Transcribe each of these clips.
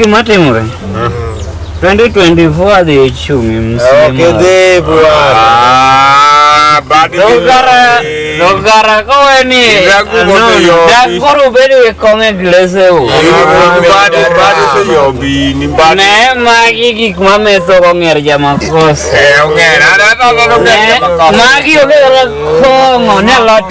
Gima timore. 2024 adhi ichumi msimu. Dogara dogara kowe ni dagoro bedo e kong'e glese u. Ne magi gik ma metho kong'er jamakosa. Magi obedo kong'o ne lot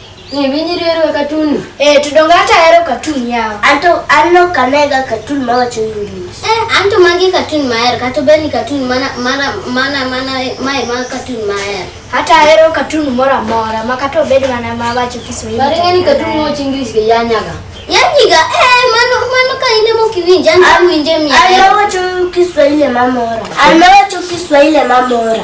Ng'e winyi riero e katun. Eh, to donge hata ahero katun yawa. Anto anno kanega katun ma wacho English. Eh, anto magi katun mahero, kata obed ni katun mana mana mana mana mae ma katun mahero. Hata ahero katun moro amora ma kata obed mana ma wacho Kiswahili. Bari ng'e ni katun ma wacho English ga yanyaga. Yanyiga, eh, mano mano ka in ema ok iwinje, an awinje mia. An ma wacho Kiswahili mamora. An ma wacho Kiswahili mamora.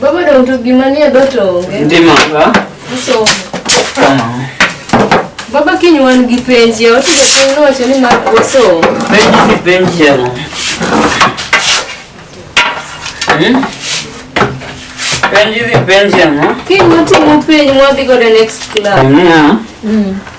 Baba dong to gima nie dot onge. Ndima ga. Uso. Tama. Baba kiny wan gi penji, ya watu jateng nowacho ni mar uso. Penji ni penji ya. Hmm? Penji ni penji ya. Kiny watimo penji mwadhi go the next class. Yeah. Mm.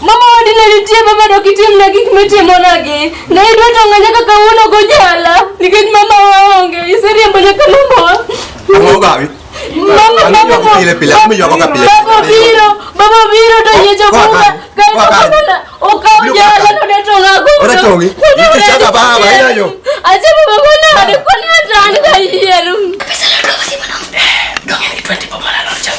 Mama wadi ne nitie ma bado kitimna gik mitimonagi. Ne idwa tonga nyaka kawuono gojala nikech mama waonge. Iseriembo nyaka mama. Ang'o gawi? Mama mama mama. Pile pile mama yoko ka pile. Baba biro, baba biro to yecho bunga. Kai baba okaw jala no de tonga go. Ora tongi. Ni chaka baba ina yo. Acha baba kona hadi kona tan ka yeru. Kabisa ndo kasi mwanangu. Ndo ni 20 baba la ndo chaka.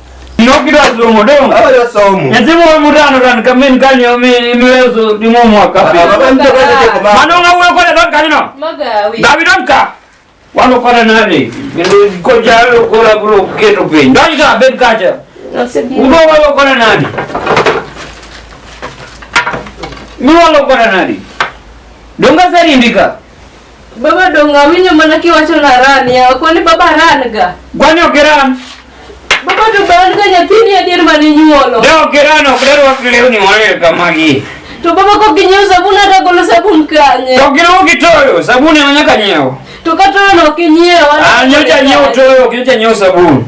Inokira somo dong. Awa yo somo. Nyathi moro mutano tan ka min kanyo imiweso dimo mwaka. Baba ndio kaje ko ba. Mano nga wuyo kore don kanyo. Magawi. Gabi don ka. Wano kore nani. Ko jalo kora bro keto piny. Don ka bed kacha. Udo walo kore nani. Mi walo kore nani. Donga sarindika. Baba dongo awinyo mana kiwacho na ran yawa kwani baba ran ga. Gwani ok ran. Baba to ran ga nyathini adier mane inyuolo. Da ok ran ok dar wak lewni mane kamagi. To baba kok ginyiewo sabun ata golo sabun kanye. To giluwo gi toyo sabun ema nyaka nyiewo. To ka toyo no ok inyiewo. Ah nyocha nyiewo toyo ok nyocha nyiewo sabun.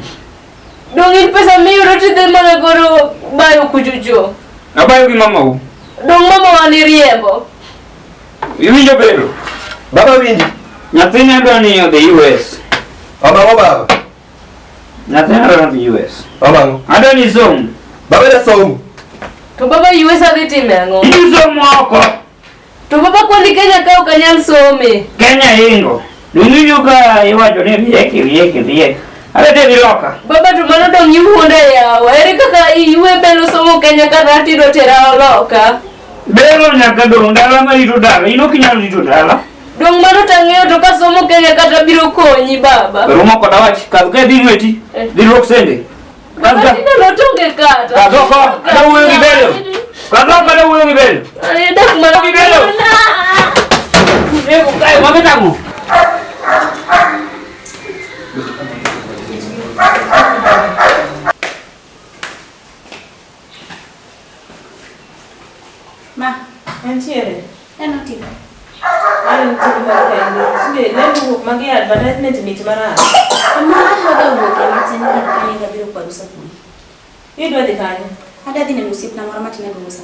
Dongo in pesa miyudo tidhi mana goro bayo kujujo. Abayo gi mamau. Dongo mama wani riembo. Iwinjo bendo? Baba winji. Nyathina dwa ni odhi US. Omang'o baba? Nyathina dwa dhi US. Omang'o? Adwa ni som. Baba da som. To baba US adhi time ang'o? Isom oko. To baba kwani Kenya ka ok anyal some. Kenya hingo. Dunyo ka iwacho ni rieki rieki rieki. Are te biloka. Baba to mano dong' iwuonda yawa. Ere kaka iwe belo somo Kenya ka dhati do tera oloka. Bero nyaka dong' dala ma rito dala, in ok inyal rito dala. Dong' mano tang'eyo to kasomo Kenya kata biro konyi baba. Romo koda wach, kadh kae dhi lweti, eh. dhi lwok sende. Kadh ka. Tinde notonge kata. Kadh oko, ada wuoyo gi Bero. Kadh oko, ada wuoyo gi Bero. Ayo dak mana gi Bero. Nego kae, wame tamo. Thank you. Ma, entiere. En otipo. En otipo mar kende. Sinde, lendo wuok magi advertisement mit marach. Amma adwa wuok e matin kar kane gabiro kwaru sapuni. Idwa dhi kanye? Adadhi neno osiepna moro matin e Mombasa.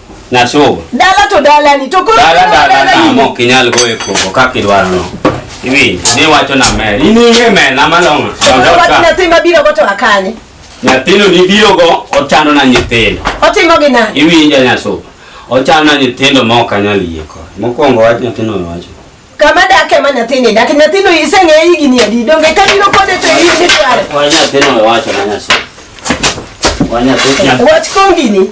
Na so. Dala to dala ni to ko. Dala dala na mo kinyal go e ko ka kidwar no. Iwi, ni wacho na me. Ini he me na malonga. Wacho na tima biro go to akanye. Nyathino ni biro go ochano na nyithindo. Otimo gi na. Iwi inja nya so. Ochano na nyithindo ma ok anyal yie ko. Mokwongo wach nyathino wacho. Kama dake ma nyathini dak nyathino iseng'e igi ni adi donge ka biro kode to igi ni dware. Wanya nyathino wacho na nya so. Wanya nyathino. Wach kongini.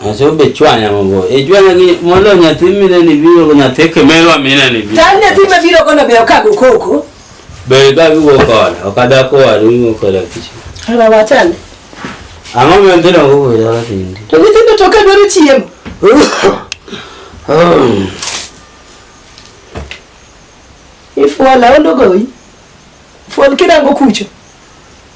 Aso be chwanya mago. E chwanya gi mondo nyathi mine ni biro go nyathi kemelwa mine ni biro. Tan nyathi ma biro kono be okago koko. Be ga go kono. Okada ko waru go kono kichi. Ala wachane. Ang'o mi ndino go go yara tindi. To nyithindo to ka dwaro chiemo. Ifuala ondo goyi. Fual kidango kucho.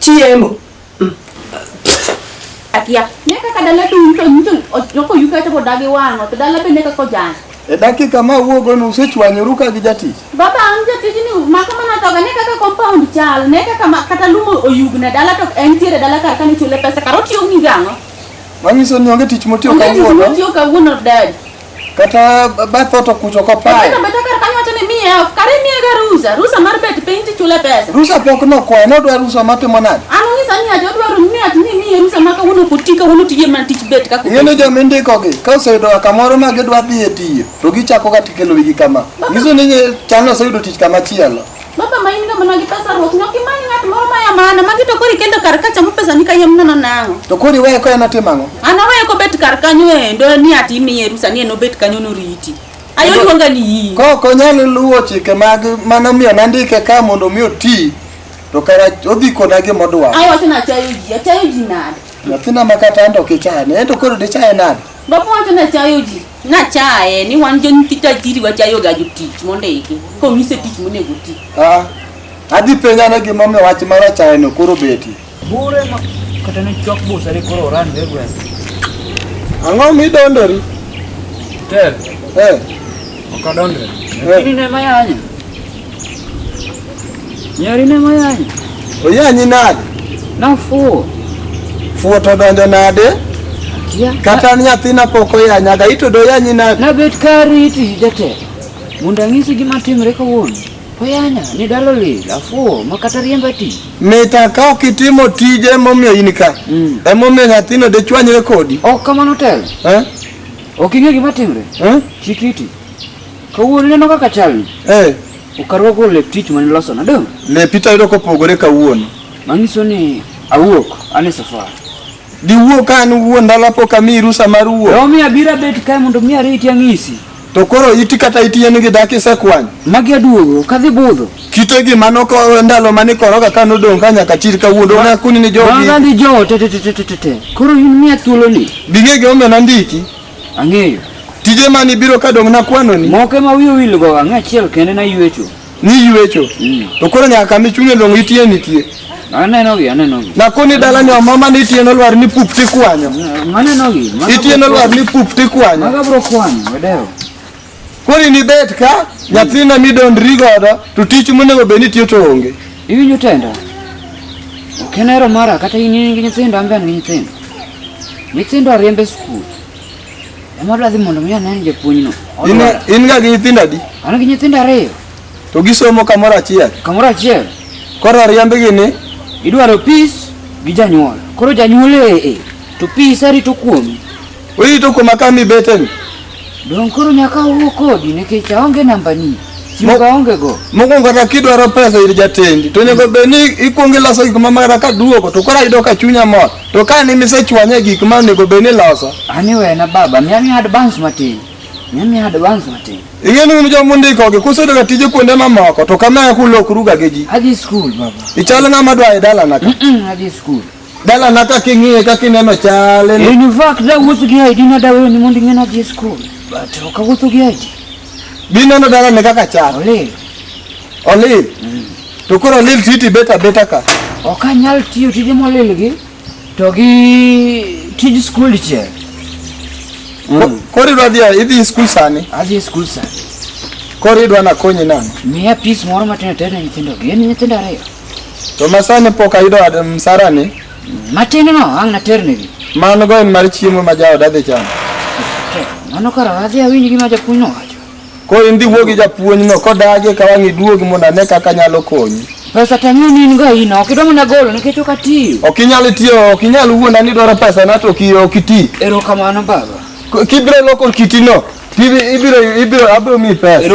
Chiemo. Akia. Ne kaka dala duto nyiso joko yuka to dagi wang'o to dala be ne kaka ojany. E dakika ma wuogo no usechwanyoru ka gi jatich. Baba an jatich ni maka mana toga ne kaka compound chal ne kaka ma, kata lumo oyugna dala to en tiere dala kar kane chule pesa kar otiyo gi gang'o. Manyiso ni onge tich motiyo Onge tich kawuono. motiyo kawuono dad. Kata bath ot okucho kopayo. Kata bedo kar kanyo wacho ni miye off, kare miye ga rusa, rusa mar bet piny tichule pesa. Rusa pok nokwayo, nodwa rusa matimo nade? An onyisa ni ati odwaro ni ati ni miye rusa ma kawuono ok oti kawuono tije mana tich bet kaka Ing'e ni joma indikogi ka oseyudo kamoro ma gidwa dhi e tiyo to gichakoga tikelo wigi kama. Nyiso ni chano oseyudo tich kama chielo. Baba main ka mana kita sarok nyok ki mani ngat moro maya mana magi to kori kendo kar kacha mo pesa ni ka yem nono nango. To kori weyo ko yana timango. Ana weyo ko bet kar kanyo endo ni ati mi yerusa ni no bet kanyo no riti. Ayo luonga ni yi. Ko ko nyalo luwo chike mag mano miyo nandike ka mondo mi oti. To kara odhi kona gi modwa. Ayo tena chayo ji, chayo ji nade. Nyathina makata ando kichane, endo koro dichaye nade? Baba wacho ni achayo ji, nachaye ni wan jo nyithi tajiri wachayo ga jotich mondo iki, konyise tich monego ti. Ah, adhi penja ne gima omiyo wach mar achaye no koro beti. Bure ma kata ni chok busa ni koro oran de gwen. Ang'o midondori? Tel. Eh. Okadondre. Eh. Kini ne mayanya. Nyari ne moyanyi. Oyanyi nade? Nafuwo. Fuwo to donjo nade? Akia. Kata nyathina pok oyanyaga, ito doyanyi nade? Nabet ka riti jatelo. Mondo ang'isi gima timre kawuono. Oyanya, ni dalo lil, afuwo, ma kata riemba ti. Mita ka ok itimo tije momiyo in ka. Mm. Emomiyo nyathino dechwanyre kodi. Ok kamano telo. Eh? Ok ing'e gima timre. Eh? Chik iti. Kawuono ineno kaka chalni? Eh. Ukarwako lep tich mane iloso na dong'? Lepi to ayudo kopogore kawuono. Manyiso ni awuok ane safar. Diwuok ka an wuon dala pok amiyi rusa mar wuok. Yo mi abira bet kae mondo mi ariti ang'isi. To koro iti kata iti en gi dak isekwany. Magi aduogo kadhi budho. Kite gi mano ko ndalo mane koroga ka nodong' ka nyaka chir kawuono na kuni ni jogi. Magi jote te te te te te. Koro in miya thuolo ni. Bing'e gi omena ndiki. Ang'eyo. Tije mani biro ka dong' nakwano ni. Moko ema wiyo wil go ang'e achiel kende na yuecho. Ni yuecho. Mm. To koro nyaka mi chunye long' itie nitie. Aneno gi, aneno gi. Na koni dala ni mama ni itie nolwar ni pup ti kwanyo. Aneno gi. Itie nolwar ni pup ti kwanyo. Maga bro kwanyo, wedewo. Koni ni bet ka nyathina midondri godo to tich monego bed ni tiyo to onge. Iwinjo tenda? Ok en hero mara kata in in gi nyithindo an be an gi nyithindo. Nyithindo ariemb e skul. Ema adwa dhi mondo mi anen japuonjno. In in ga gi nyithindo adi? An gi nyithindo ariyo. To gisomo kamoro achiel. Kamoro achiel. Koro ariembgi ni idwaro peace gi janyuol. Koro janyuol ee to peace arito kuomi. Wewe to koma kami beten. Don koro nyaka wuo kodi nikech aonge namba ni. Simba onge go. Mokwongo kata kidwaro pesa ir jatendi to onego bed ni ikwongo iloso gik ma mara ka duogo to koro ayudo ka chunya mor. To ka ni misechwanye gik ma onego bed ni loso. Ani wena baba, miya miya advance matin. Miya miya advance matin. Ing'e ni un joma undiko gi kusudo ga tije kuonde mamoko to kama kulokruga gi ji. Adhi skul baba. Ichal ng'ama dwa e dalana ka. Mm, mm, adhi skul. Dala na kaka ing'iye kaka ineno chale. In fact da wuotho gi ID na dawe ni mondo ing'ena dhi e skul. But ok awuotho gi ID. Bi neno dala ne kaka chal. Olil. Olil. Mm. To koro olil titi beta beta ka. Ok anyal tiyo tije molil gi to gi tij skul che. Mm. Koro idwa dhi idhi e skul sani? Adhi e skul sani. Koro idwa nakonyi nang'o? Miya pis moro matin ater ne nyithindo gi. En nyithindo ariyo. To masani pok ayudo ad- msarani. Matin no ang' naternegi. Mano go en mar chiemo ma jaoda dhi chamo. Tek, Mano kara adhi awinj gima japuonj nowacho. Koro in dhi wuo gi japuonj no kodagi eka wang' iduog mondo ane kaka anyalo konyi. Pesa to ang'eyo ni in go in ok idwa mana golo nikech ok atiyo. Ok inyal tiyo, ok inyal wuonda ni dwaro pesa na to ok i- ok iti. Erokamano baba. K- Kibiro loko kitino, tibi- ibiro ibiro abiro miyi pesa.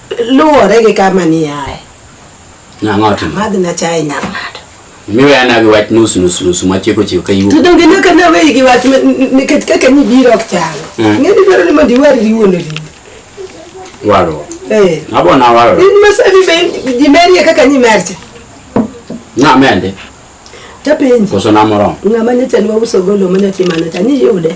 Luwore gi kama ni aye. Nang'o timo? Madhi na chai nyar ng'ato. Miweya na gi wach nus nus nus ma chiko chiko ka yuo. To donge ne ka nawe gi wach nikech kaka ni biro ok chalo. Mm. Ng'e ni dwaro ni mondo iwar riwo no riwo. Waro. Eh. Abo na waro. In masabi be di meri e kaka ni mercha. Na mende. Tapenji. Koso na moro. Ng'ama nyocha ni wauso golo manyo timano cha ni yude.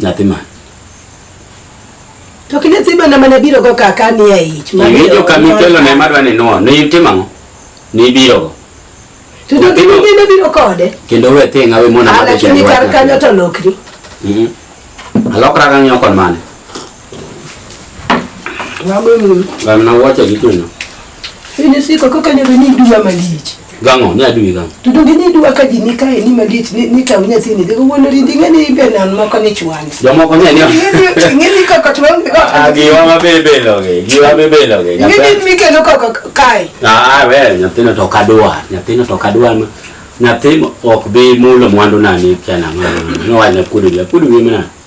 Nyathi man. To kine ziba na mana biro go kaka ni e ich. Ni jo kami kelo ne madwa ni nuo. Ni itimo ang'o? Ni biro go. To do kine bende biro kode. Kendo we thi ngawe mona madwa. Ala kini kar kanyo to lokri. Mhm. Alokra kanyo kon mane. Wagolo. Gamna wacho gi kuno. Ini siko kaka ne ni dua malich. Gango ne adui gango. To donge ni dua ka jini kae ni malich ni ni tamu nyathi ni dego wono rindi ngene ibe nan moko ni chwani. Jomoko ne ni. Ngene kaka chwani. Agiwa mabebe loge. Giwa mabebe loge. Ngene mikelo kaka kae. Ah, we nyathino to kadwa. Nyathino to kadwa ma. Nyathi ok bi mulo mwandu nani kana. Nowanya kudu ya kudu mimi nani.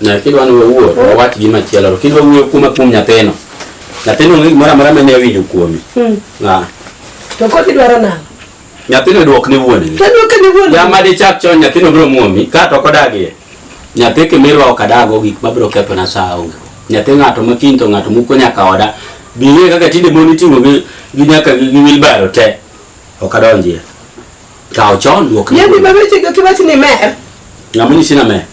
na kidwa ni wawuo to wawach gima chielo to kidwa wuoyo kuoma kuom nyathino nyathino onge gimoro amora mane awinjo kuome Hmm. Ah, To kod idwaro nang'o? nyathino dwok ne wuongi To dwoke ne wuon. jama dichak chon nyathino biro muomi ka to kodagie nyathi kimirwa ok adago gik mabiro kethona saa onge nyathi ng'ato ma kiny to ng'ato muko nyaka oda biye kaka tinde mon iting'o gi gi nyaka gi gi wheelbarrow te ok adonjie Kawo chon wuok. Yembi baba chiga kiwachi ni mer. Ng'ama nyisi na mer.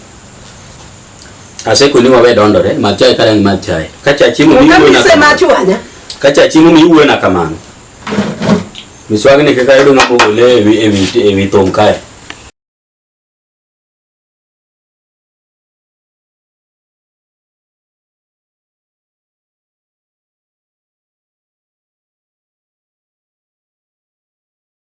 Asekoni wawe dondore, madh chae karangi madh chae. Ka cha chiemo mi wuwe na kamano. Ka cha chiemo mi wuwe na kamano. Miswagni kaka yudo ng'ama ogole ewi ewi ewi thong kae.